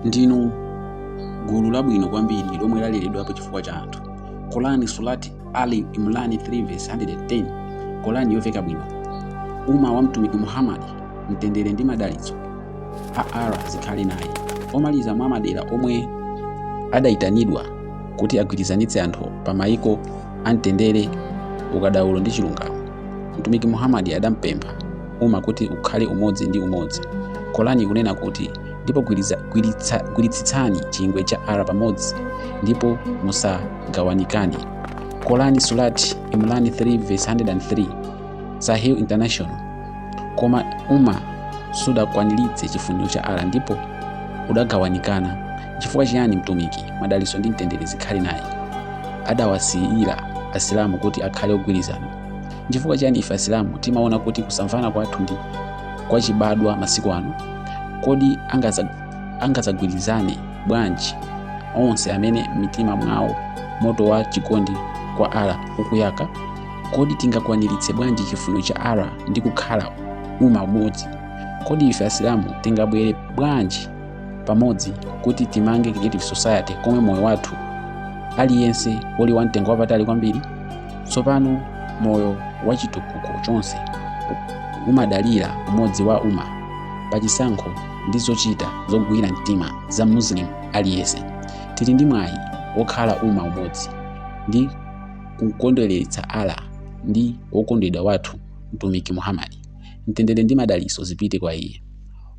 ndinu gulu labwino kwambiri lomwe laleredwapo chifukwa cha anthu Korani Surat Ali Imran 3 verse 110 Korani yomveka bwino uma wa mtumiki muhammadi mtendere ndi madalitso a Allah zikhale naye omaliza mwa madera omwe adayitanidwa kuti agwirizanitse anthu pa mayiko amtendere ukadaulo ndi chilungamo mtumiki muhammadi adampempha uma kuti ukhale umodzi ndi umodzi. Korani ikunena kuti, ndipo gwiritsitsani chingwe cha Allah pamodzi ndipo musagawanikane. Korani Surat Imran 3:103 Sahih International Koma uma sudakwaniritse chifuniro cha Allah ndipo udagawanikana. Chifukwa chiyani Mtumiki, madalitso ndi mtendere zikhale naye, adawasiyira Asilamu kuti akhale ogwirizana? Chifukwa chiyani ife Asilamu timaona kuti kusamvana kwathu ndi kwachibadwa masiku ano? Kodi angadzagwirizane bwanji onse amene mitima mwawo moto wa chikondi kwa Allah ukuyaka? Kodi tingakwaniritse bwanji chifuno cha Allah ndi kukhala uma umodzi? Kodi ife Asilamu tingabwere bwanji pamodzi kuti timange creative society komwe moyo wathu aliyense uli wamtengo wapatali kwambiri? Tsopano moyo wa chitukuko chonse umadalira umodzi wa uma pa chisankho ndi zochita zogwira mtima za Muslim aliyense. Tili ndi mwayi wokhala uma umodzi ndi kukondweretsa Allah ndi wokondedwa wathu Mtumiki Muhammad, mtendere ndi madalitso zipite kwa iye.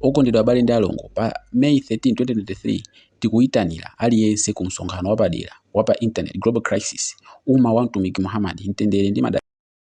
Okondedwa abale ndi alongo, pa May 13, 2023 Tikuitanira aliyense ku msonkhano wapadera wa pa internet Global Crisis, uma wa Mtumiki Muhammad, Mtendere ndi Madalitso.